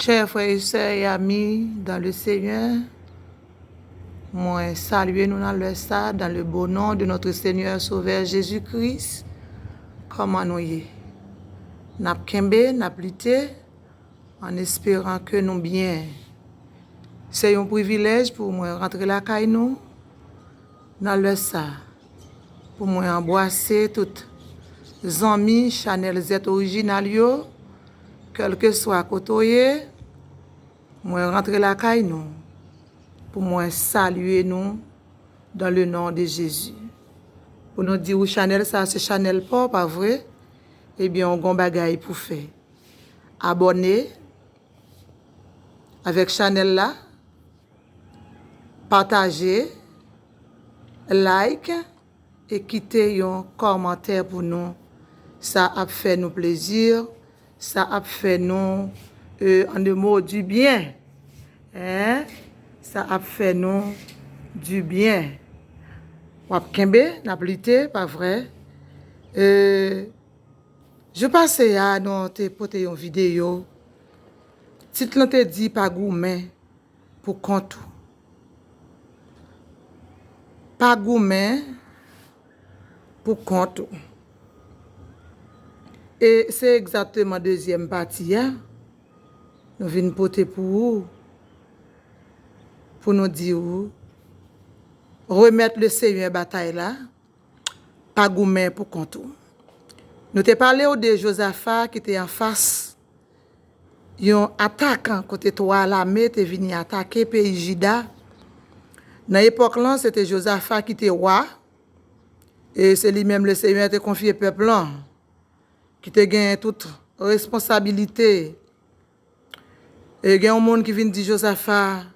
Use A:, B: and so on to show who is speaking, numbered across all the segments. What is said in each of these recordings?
A: Chè frè e sè e ami dan le Senyè, mwen salye nou nan lè sa, dan le bon non de notre Senyè Sovè Jezi Kris, kòman nou ye? N ap kenbe, n ap lite, an esperan ke nou byen. Se yon privilèj pou mwen rantre lakay nou nan lè sa. Pou mwen anbwase tout zanmi chanèl zèt orijinal yo kèlkeswa kote w ye mwen rantre lakay nou pou mwen salye nou dan le non de jezi pou nou di ou chanèl sa se chanèl pa w pa vre ebyen ou gon bagay pou fè abòne Avèk chanèl la pataje like e kite yon kòmantè pou nou sa ap fè nou plezi sa ap fè nou en de mo di byen sa ap fè nou di byen wap kenbe nap lite pa vre. Jou pase a nou te pote yon videyo, tit lan te di pa goumen pou kont ou. Pa goumen pou kont ou. E se egzatteman dezyèm pati a nou vin pote pou ou, pou nou di ou remèt le senyè batay la. Pa goumen pou kont ou. Nou te pale w de Jozafa ki te anfas yon atak kote twa lame te vini atake peyi Jida. Nan epòk lan, se te Jozafa ki te wa e se li menm Lesenyè te konfye pèp lan ki te gen tout responsabilite E gen yon moun ki vin di Jozafa,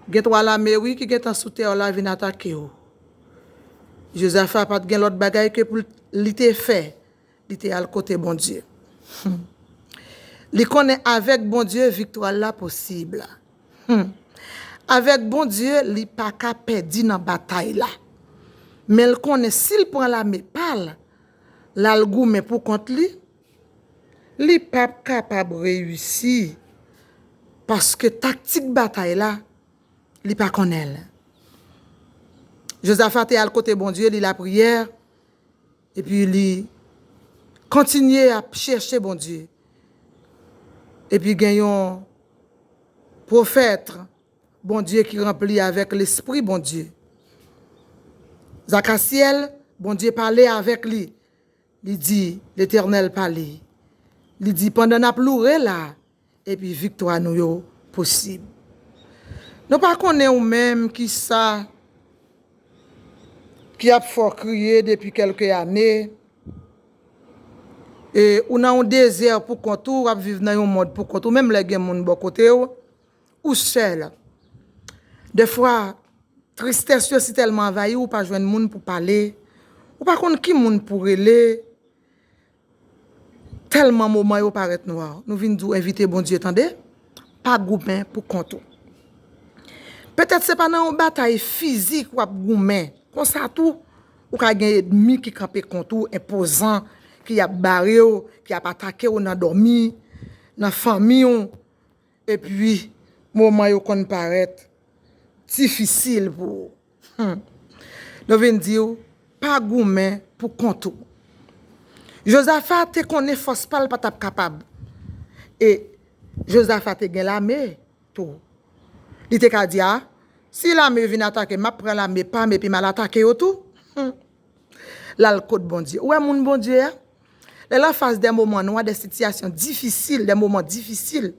A: Gen twa lame, wi, ki gentan sou tè w la vin atake w. Jozafa pa t gen lòt bagay ke pou li te fè, li te al kote Bondye. Li konnen avèk Bondye viktwa l la posib. Avèk Bondye, li pa ka pèdi nan batay la. Men l konnen si l pran lame pa l, l al goumen poukont li, Li pap kapab reyisi paske taktik batay la, li pa konnen l. Jozafa te al kote Bondye, li lapriyè, epi li kontinye ap chèche Bondye. Epi gen yon pwofèt Bondye ki ranpli avèk lespri Bondye. Zakasyèl, Bondye pale avèk li. Li di, Letènèl pale, li di, Pandan n ap loure la, epi viktwa nou yo posib. Nou pa konnen ou menm ki sa ki ap fè w kriye depi kèlke ane, e ou nan yon dezè poukont ou, w ap viv nan yon mond poukont ou, menm lè gen moun bò kote w, Ou sèl. Dèfwa, tristès yo si tèlman anvayi w ou pa jwenn moun pou pale, ou pa konn ki moun pou rele, tèlman moman yo parèt nwa. Nou vin di w envite Bondye tande, pa goumen pou kont ou. Petèt se pa nan yon batay fizik w ap goumen, konsa tou ou ka gen edmi ki kanpe kont ou, enpozan, ki ap bare w, ki ap atake w nan dòmi, nan fanmi w. Epi moman yo konn parèt difisil pou ou. Humm. Yo vin di ou pa goumen pou kont ou. Jozafa te konnen fòs pa l pa t ap kapab. E Jozafa te gen lame tou. Li te ka di a, si lame vin atake m, m ap pran lame pa m epi m al atake yo tou. Humm. Lal kot Bondye. Ou wè moun Bondye a? Lè l anfas dè moman nwa, dè sitiyasyon difisil, dè moman difisil,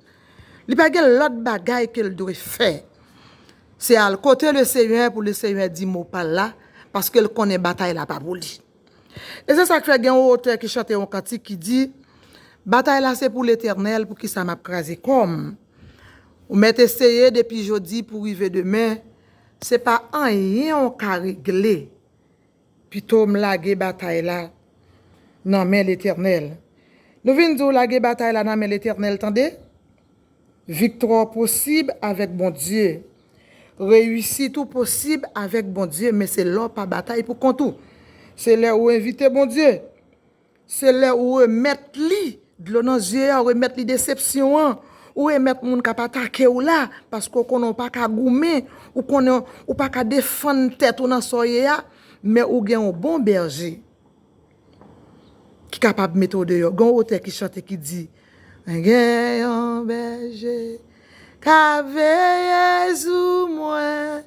A: li pa gen lòt bagay ke l dwe fè. Se al kote Lesenyè pou Lesenyè di mo pa l la, paske l konnen batay la pa pou li. E se sa k fè gen yon otè ki chante yon kantik ki di, Batay la se pou Letènèl, poukisa m ap kraze kò m? Ou mèt eseye depi jodi pou rive demen. Se pa anyen w ka regle. Pito m lage batay la nan men Letènèl. Nou vin di w lage batay la nan men Letènèl tande. Viktwa w posib avèk Bondye. Reyisit ou posib avèk Bondye men se lè w pa batay pou kont ou. Se lè ou envite Bondye Se lè ou remèt li dlo nan zye a, ou remèt li desepsyon an, ou remèt moun k ap atake w la, paske ou konnen ou pa ka goumen, ou konnen ou pa ka defann tèt ou nan sa w ye a, men ou gen yon bon bèje ki kapab mete w deyò. Gen yon otè ki chante ki di, Mwen gen yon bèje k ap veye sou mwen.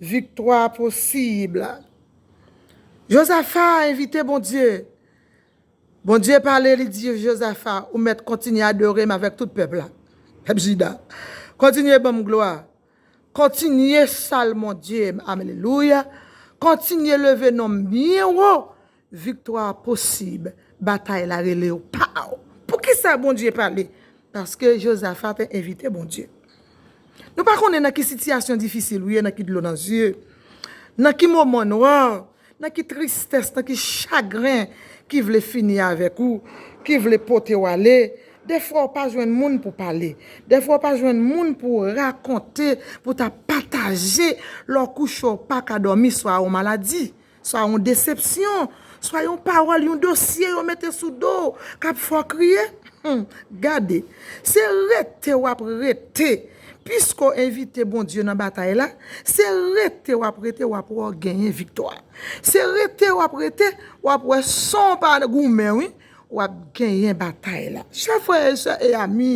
A: Viktwa posib la. Jozafa envite Bondye. Bondye pale, li di Jozafa, Ou mèt kontinye adore m avèk tout pèp la, pèp Jida. Kontinye ban m glwa. Kontinye salmondye m. Alelouya! Kontinye leve non m byen wo Viktwa posib, batay la rele w. Pow! Poukisa Bondye pale? Paske Jozafa te envite Bondye. Nou pa konnen nan ki sitiyasyon difisil ou ye, nan ki dlo nan zye, nan ki moman nwa, nan ki tristès, nan ki chagren ki vle fini avèk ou, ki vle pote w ale. Defwa ou pa jwenn moun pou pale. Defwa ou pa jwenn moun pou rakonte, pou ta pataje lè w kouche ou pa ka dòmi swa ou maladi. Sa yon desepsyon! Sa yon pawòl, yon dosye yo mete sou do w k ap fè w kriye! Hum! Gade! Se rete w ap rete! Piske w envite Bondye nan batay la, se rete w ap rete w ap wè w genyen viktwa. Se rete w ap rete w ap wè san w pa goumen wi, w ap genyen batay la. Chè frè e sè e ami!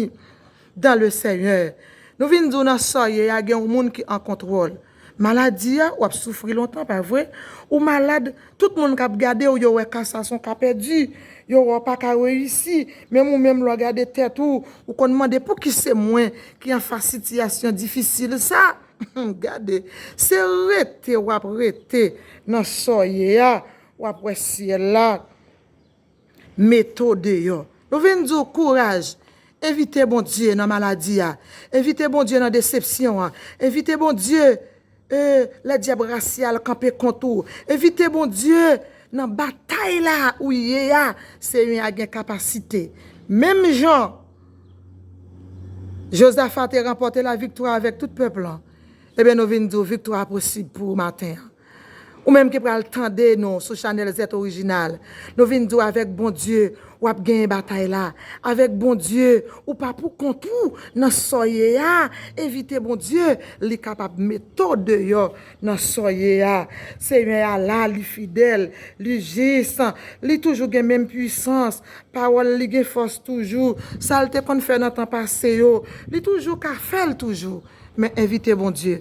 A: Dan le senyè Nou vin di w nan sa w ye a gen yon moun ki an kontwòl maladi a wap soufri lontan pa vre ou malad tout moun kap gade w yo wè ka sa son ka pèdi yo wè w pa ka reyisi menm ou menm lè w gade tèt ou ou konn mande pou ki se mwen ki an fas sitiyasyon difisil sa humm gade se rete wap rete nan sa w ye a wap wè syèl la. Mete w deyò. Nou vin di w kouraj. Envite Bondye nan maladi a. Envite Bondye nan desepsyon an. Envite Bondye ee lè dyab rasyal kanpe kont ou. Envite Bondye nan batay la ou ye a. Senyè a gen kapasite. Menm jan Jozafa te ranpòte laviktwa avèk tout pèp lan, enben nou vin di w viktwa a posib pou ou maten an. Ou menm ki pral tande nou sou chanèl zèt orijinal, nou vin di w avèk Bondye wap genyen batay la, avèk Bondye ou pa pou kont ou nan sa w ye a, envite Bondye li kapab mete w deyò nan sa w ye a, Senyè a la li fidèl, li jis, li toujou gen menm pwisans, pawòl li gen fòs toujou, sa l te konn fè nan tan pase yo, li toujou ka fè l toujou, men envite Bondye.